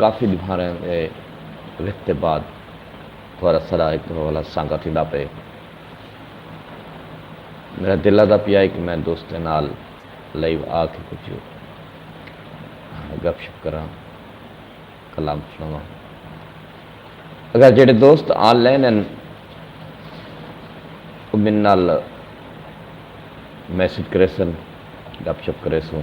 کافی ڈوہاریں دے رکھ دے بعد تہاڈا سرا ہک دفعہ والا سانگا تھیندا پئے۔ میڈا دل آہدا پیا ہے کہ میں دوستیں نال لائیو آ کے کجھ گپ شپ کراں، کلام سنڑاواں۔ اگر جیڑھے دوست آن لائن ہن او میڈے نال میسج کریسن، گپ شپ کریسوں۔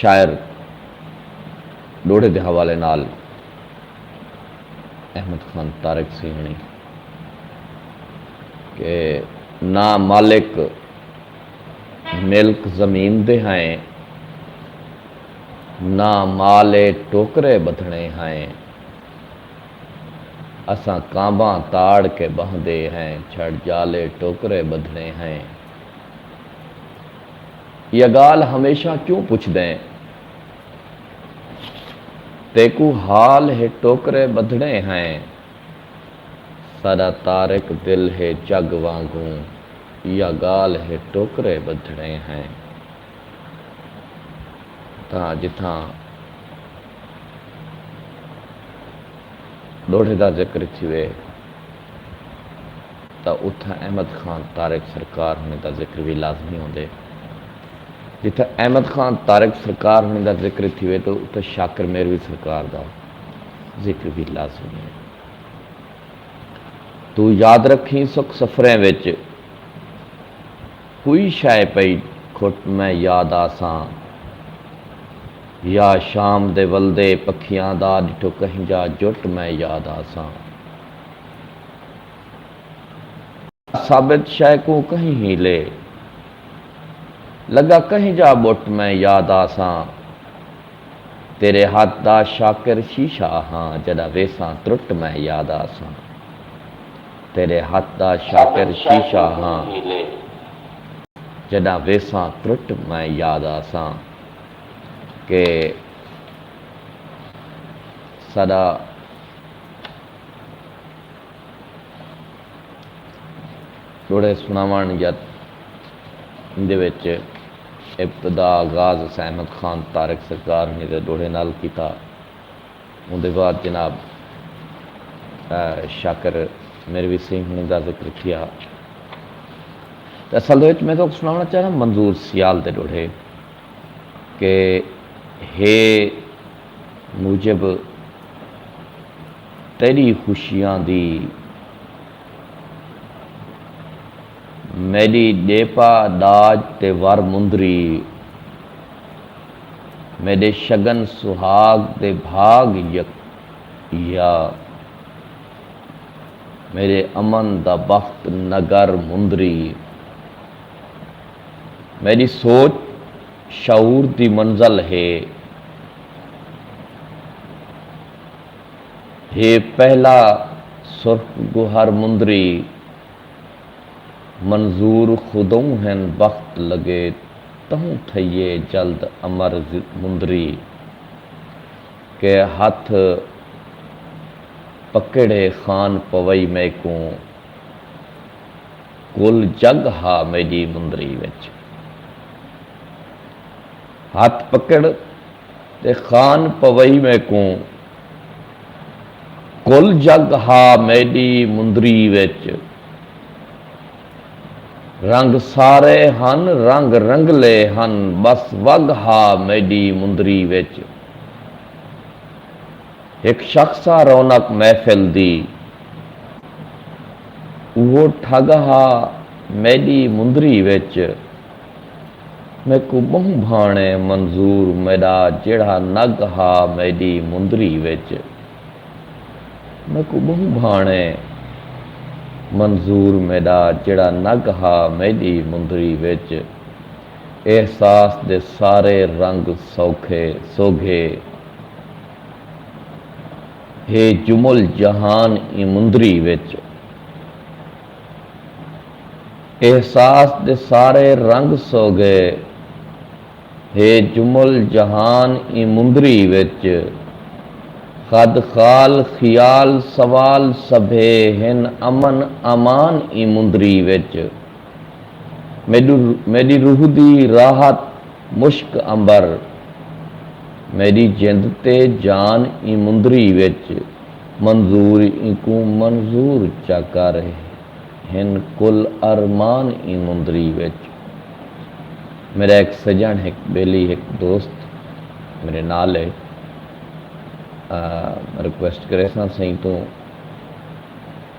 شاعر ݙوہڑے دے حوالے نال احمد خان طارق سیہݨی کہ نہ مالک ملک زمین دے ہائیں نہ مال ٹوکرے بدھنے ہائیں اساں کانباں تاڑ کے بہندے ہیں چھڑ جالے ٹوکرے بدھنے ہیں ایہا ڳالھ ہمیشاں کیوں پچھدیں؟ تیکوں حال ہے ٹوکرے ٻدھڑیں ہیں۔ ساݙا طارق دل ہے جڳ وانگوں ایہا ڳالھ ہے ٹوکرے ٻدھڑیں ہیں۔ تاں جتھاں ݙوڑھے دا ذکر تھیوے۔ تاں اتھاں احمد خان طارق سرکار ہنڑیں دا ذکر وی لازمی ہوندے۔ جتھاں احمد خان طارق سرکار ہنڑیں دا ذکر تھیوے تاں اتھاں شاکر میروی سرکار دا ذکر وی لازمی ہے۔ توں یاد رکھیں سکھ سفریں وچ کوئی شئے پئی کھٹ میں یاد آساں یا شام دے ولدے پکھیاں دا ڈٹھو کہیں جا جٹ میں یاد آساں۔ ثابت شئے کوں کہیں ہیلے لگا کہیں جا ٻٹ میں یاد آساں تیرے ہتھ دا شاکر شیشہ ہاں جݙاں ویساں ترٹ میں یاد آساں تیرے ہتھ دا شاکر شیشہ ہاں جݙاں ویساں ترٹ میں یاد آساں کہ ساݙا ݙوہڑے سݨاوݨ یا ایندے وچ ابتدا آغاز اساں احمد خان طارق سرکار ہݨیں دے ݙوہڑے نال کیتا۔ اوندے بعد جناب شاکر میروی سئیں ہݨیں دا ذکر تھیا۔ تے اصل دے وچ میں تہاکوں سݨاوݨا چاہنداں منظور سیال دے ݙوہڑے کہ ہے موجب تیݙی خوشیاں دی میݙی ݙیپا ݙاج تے ور مندری میݙے شگن سہاڳ دے بھاڳ یک یا میݙے امن دا بخت نگر مندری میݙی سوچ شعور دی منزل ہے۔ ہے پہلا سرخ گوہر مندری۔ منظور خودئوں ہن بخت لڳے تہوں تھئیے جلد امر مندری۔ کہ ہتھ پکیڑھے خان پوئی میکوں۔ کل جگ ہا میݙی مندری وچ۔ ہتھ پکڑ تے خان پوئی میکوں۔ کل جگ ہا میݙی مندری وچ۔ رنگ سارے ہن رنگ رنگلے ہن ٻس وڳ ہا میݙی مندری وچ۔ ہک شخص ہا رونق محفل دی۔ اوہو ٹھگ ہا میݙی مندری وچ۔ میکوں ٻہوں بھاݨے منظور میݙا جیڑھا نگ ہا میݙی مندری وچ۔ میکوں ٻہوں بھاݨے منظور میݙا جیڑھا نگ ہا میݙی مندری وچ۔ احساس دے سارے رنگ سوکھے سوگھے۔ ہے جمل جہان ایں مندری وچ احساس دے سارے رنگ سوگھے ہے جمل جہان ایں مندری وچ خد خال خیال سوال سبھے ہن امن امان ایں مندری وچ۔ میݙی روح دی راحت مشک عنبر میݙی جند تے جان ایں مندری وچ منظور اینکوں منظور چا کر ہن کل ارمان ایں مندری وچ میݙا ہک سڄݨ ہک ٻیلی ہک دوست میݙے نال ہے ریکویسٹ کریساں سئیں توں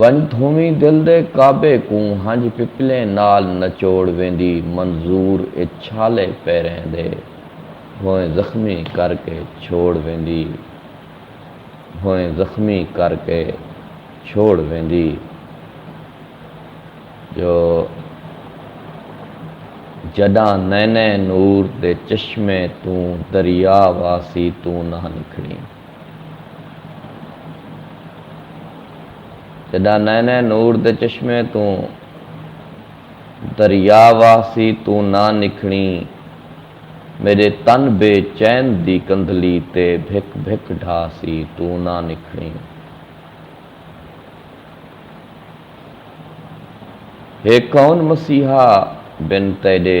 ونڄ تھویں دل دے کعبے کوں ہنج پپلیں نال نچوڑ ویندی منظور اے چھالے پیریں دے ہوئیں زخمی کر کے چھوڑ ویندی ہوئیں زخمی کر کے چھوڑ ویندی جو جݙاں نئیں نئیں نور دے چشمیں توں دریا واسی توں نہ نکھڑیں۔ جݙاں نئیں نئیں نور دے چشمے توں دریا واہسی توں نہ نکھڑیں میݙے تن بے چین دی کندھلی تے بھک بھک ڈھاہسی توں نہ نکھڑیں ہے کون مسیحا بن تیݙے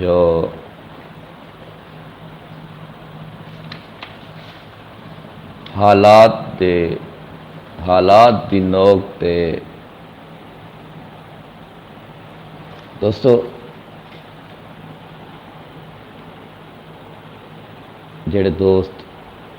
جو حالات دے حالات دی نوک تے دوستو جڑے دوست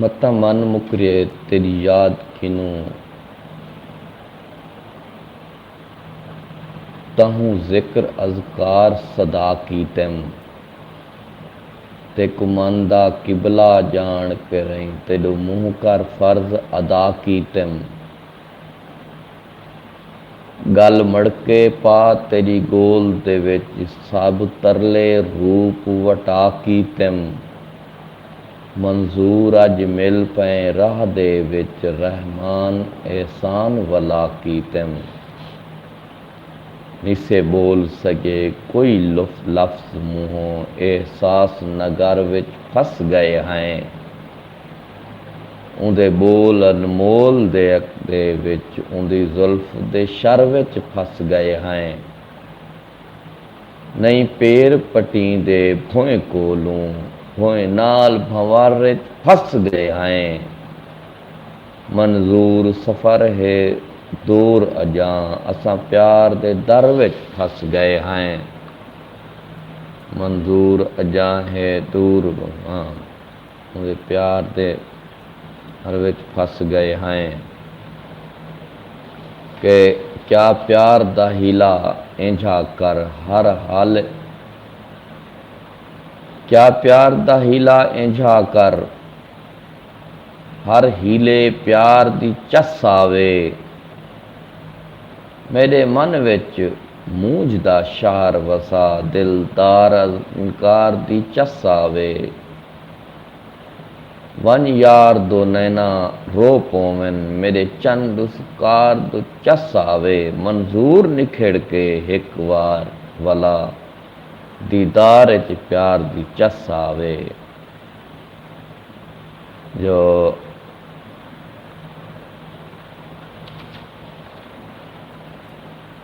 متاں من مکریے تیݙی یاد کنوں تہوں ذکر اذکار سدا کیتم تیکوں من دا قبلہ ڄاݨ پرئیں تیݙو منہ کر فرض ادا کیتم گل مڑکے پا تیڈی گول دے وچ سب ترلے روپ وٹا کیتم منظور اج مل پئیں راہ دے وچ رحمان احسان ولا کیتم نسے بول سگے کوئی لفظ منہوں احساس نگر وچ پھس گئے ہیں اوندے ٻول انمول دے عقدے وچ اوندی زلف دے شر وچ پھس ڳئے ہئیں۔ نئیں پیر پٹیں دے بھوئیں کولوں بھوئیں نال بھنور وچ پھس ڳئے ہئیں۔ منظور سفر ہے دور اڄاں اساں پیار دے در وچ پھس ڳئے ہئیں۔ منظور اڄاں ہے دور اواں۔ اوندے پیار دے ہر وچ پھس گئے ہائیں کہ کیا پیار دا حیلہ اینجھا کر ہر حال کیا پیار دا حیلہ اینجھا کر ہر حیلے پیار دی چس آوے میڈے من وچ مونجھ دا شہر وسا دل دار انکار دی چس آوے۔ ونڄ یار دو نینا رو پوون میݙے چن ݙس کار دو چس آوے منظور نکھڑ کے ہک وار ولا دیدار اچ پیار دی چس آوے جو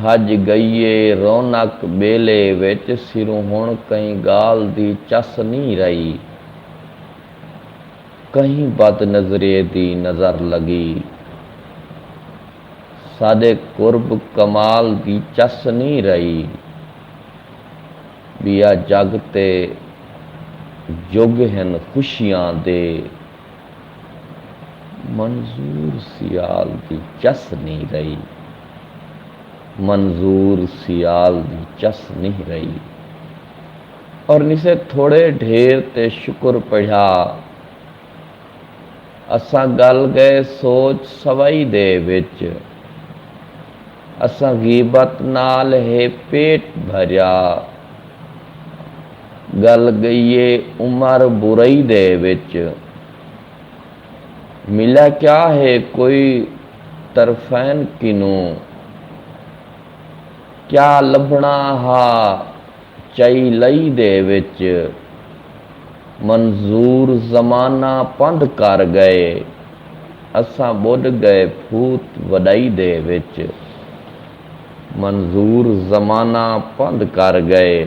بھڄ ڳئیے رونق ٻیلے وچ سروں ہݨ کہیں ڳالھ دی چس نئیں رہی کہیں بد نظریء دی نظر لڳی ساݙے قرب کمال دی چس نئیں رہی ٻیا جڳ تے جڳ ہن خوشیاں دے منظور سیال دی چس نی رہی۔ منظور سیال دی چس نی رہی۔ اور نسے تھوڑے ڈھیر تے شکر پڑھیا۔ اساں گل گئے سوچ سوائی دے وچ۔ اساں غیبت نال ہے پیٹ بھریا۔ گل گئیے عمر برئی دے وچ ملا کیا ہے کوئی طرفین کنوں کیا لبھنا ہا چئی لئی دے وچ منظور زمانہ پندھ کر گئے اساں بڈ گئے پھوت وڈئی دے وچ منظور زمانہ پندھ کر گئے۔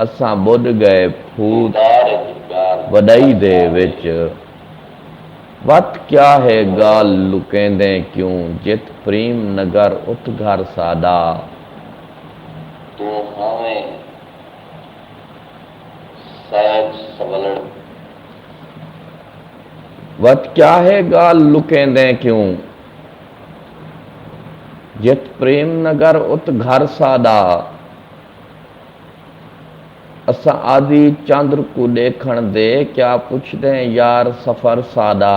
اساں ٻݙ ڳئے پھوت وݙائی دے وچ وت کیا ہے ڳال لکیندیں کیوں جت پریم نگر ات گھر ساݙا۔ توں ہاویں سیت سولڑ۔ وت کیا ہے ڳال لکیندیں کیوں۔ جت پریم نگر ات گھر ساڈا۔ اساں آدھی چندر کوں ڈیکھن دے کیا پچھدیں یار سفر ساڈا۔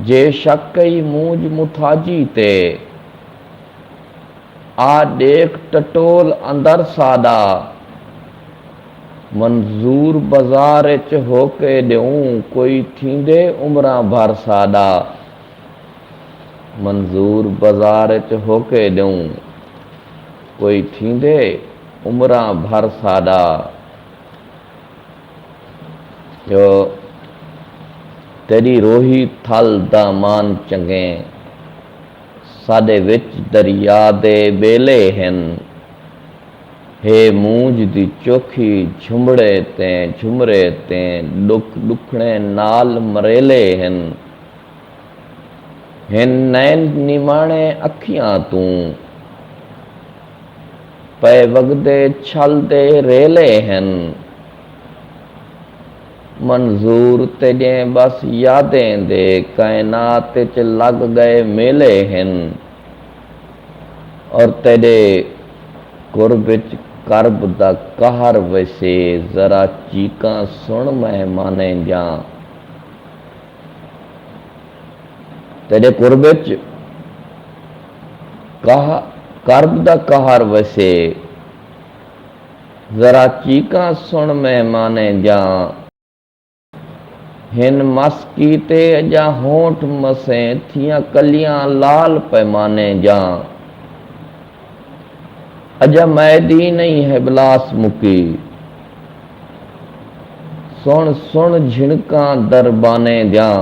جے شک کئی مونجھ متھاجی تے آ ڈیکھ ٹٹول اندر ساڈا۔ منظور بازار اچ ہو کے ݙیوں کوئی تھیندے عمراں بھر ساݙا منظور بازار اچ ہو کے ݙیوں کوئی تھیندے عمراں بھر ساݙا جو تیݙی روہی تھل دامان چنڳیں ساݙے وچ دریا دے ٻیلے ہن۔ ہے مونجھ دی چوکھی جھمڑے تے جھمرے تے ݙکھ ݙکھڑیں نال مریلے ہن ہن نین نماݨے اکھیاں توں پئے وڳدے چھل دے ریلے ہن منظور تیݙیں ٻس یادیں دے کائنات اچ لڳ ڳئے میلے ہن اور تیݙے قرب اچ کرب دا قہر ویسے ذرا چیکاں سݨ مہمانیں جاں تیݙے قرب اچ کرب دا قہر ویسے ذرا چیکاں سݨ مہمانیں جاں۔ ہن مس کیتے اجا ہونٹ مسیں تھیاں کلیاں لال پیمانے جاں اجا میدی نئیں ہبلاس مکی سن سن جھنکاں دربانے جاں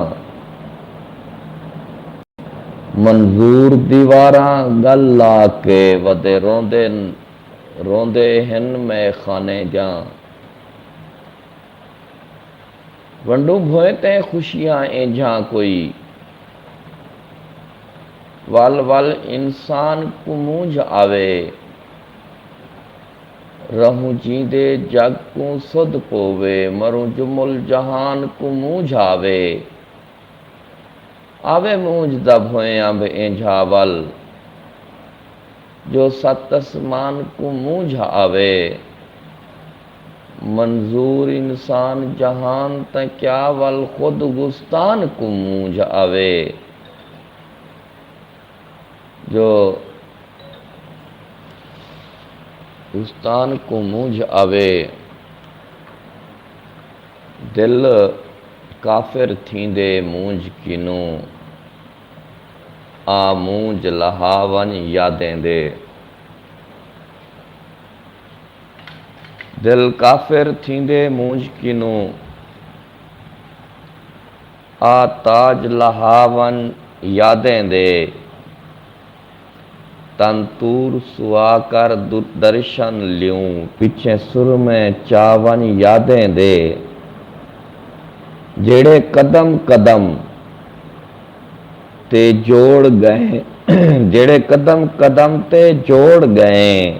منظور دیواراں گل لا کے ودے روندے روندے ہن میخانے جاں۔ ونڈوں بھوئیں تئیں خوشیاں اینجھاں کوئی ول ول انسان کوں مونجھ آوے رہوں جیندے جگ کوں سدھ پووے مروں جمل جہان کوں مونجھ آوے آوے مونجھ دا بھوئیں انبھ اینجھا ول جو ست اسمان کوں مونجھ آوے۔ منظور انسان جہان تاں کیا ول خود گستان کوں مونجھ آوے جو گستان کوں مونجھ آوے دل کافر تھیندے مونجھ کنوں آ مونجھ لہا ونج یادیں دے دل کافر تھیندے مونجھ کنوں آ تاج لہا ون یادیں دے تن تور سوا کر درشن لیوں پچھیں سرمے چا ون یادیں دے جیڑھے قدم قدم تے جوڑ ڳئیں جیڑھے قدم قدم تے جوڑ ڳئیں۔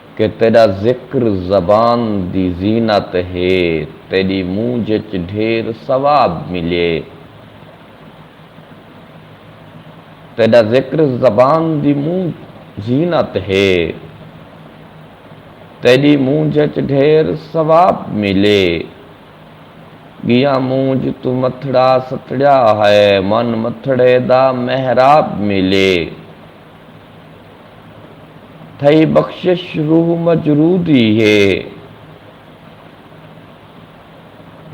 کہ تیݙا ذکر زبان دی زینت ہے، تیݙی مونجھ اچ ڈھیر ثواب ملیے۔ تیݙا ذکر زبان دی مونجھ زینت ہے، تیݙی مونجھ اچ ڈھیر ثواب ملیے۔ ڳیاں مونجھ توں متھڑا ستڑیا ہے، من متھڑے دا محراب ملیے۔ تھئی بخشش روح مجرود ای ہے۔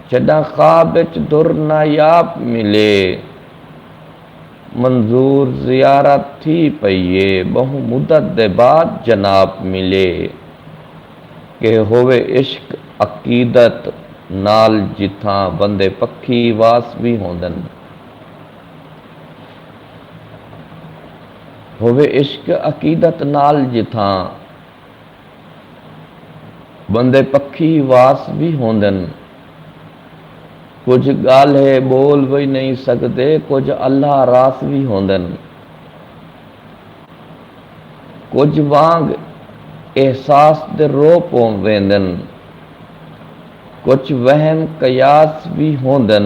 جݙاں خواب اچ در نایاب ملے۔ منظور زیارت تھی پئی ہے۔ ٻہوں مدت دے بعد جناب ملے۔ کہ ہووے عشق عقیدت نال جتھاں بندے پکھی واس وی ہوندن۔ ہووے عشق عقیدت نال جتھاں بندے پکھی واس وی ہوندن کجھ گالھے بول وی نئیں سگدے کجھ اللہ راس وی ہوندن کجھ وانگ احساس دے رو پوویندن کجھ وہم قیاس وی ہوندن۔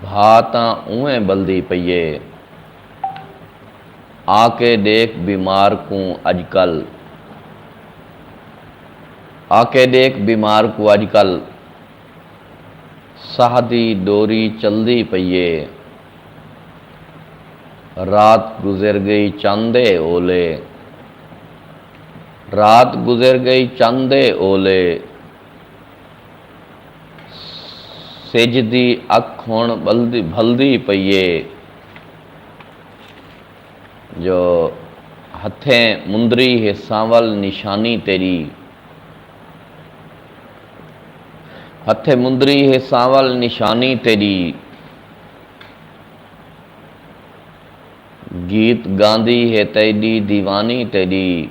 بھا تاں اونویں ٻلدی پئی اے۔ آ کے ݙیکھ بیمار کوں اڄکل۔ آ کے ݙیکھ بیمار کوں اڄکل۔ ساہ دی ݙوری چلدی پئی اے۔ رات گزر ڳئی چند اے اولے۔ رات گزر ڳئی چند اے اولے۔ سجھ دی اکھ ہݨ بھلدی پئی اے جو ہتھیں مندری ہے سانول نشانی تیݙی ہتھیں مندری ہے سانول نشانی تیݙی گیت گاندی ہے تیݙی دیوانی تیݙی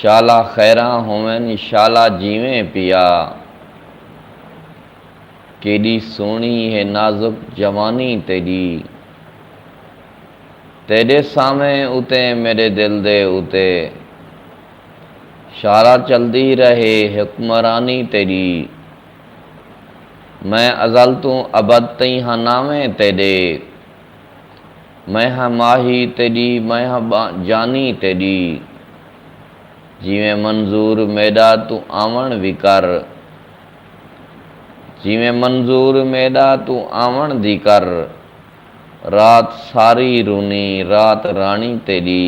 شالا خیراں ہوون شالا جیویں پیا۔ کیݙی سوہݨی ہے نازک جوانی تیݙی۔ تیݙے سانویں اتے میݙے دل دے اتے۔ شالا چلدی رہے حکمرانی تیݙی۔ میں ازل توں ابد تئیں ہاں نانویں تیݙے۔ میں ہاں ماہی تیݙی میں ہاں جانی تیݙی جیویں منظور میݙا توں آوݨ دی کر جیویں منظور میݙا توں آوݨ دی کر رات ساری رونی رات رانی تیݙی۔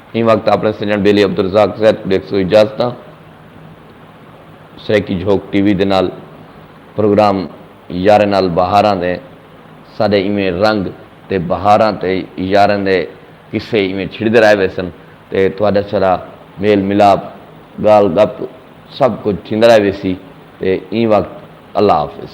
ایں وقت آپݨے سنڄݨ بیلی عبدالرزاق زید ݙیکھ سو اجازتاں سرائیکی جھوک ٹی وی دے نال پروگرام یاریں نال بہاراں دے سادے ایویں رنگ تے بہاراں تے یاریں دے قصے ایویں چھڑدے رہے ویسن تے تہاݙا سارا میل ملاپ ڳالھ ڳپ سب کجھ تھیندا رہے ویسی تے ایں وقت اللہ حافظ۔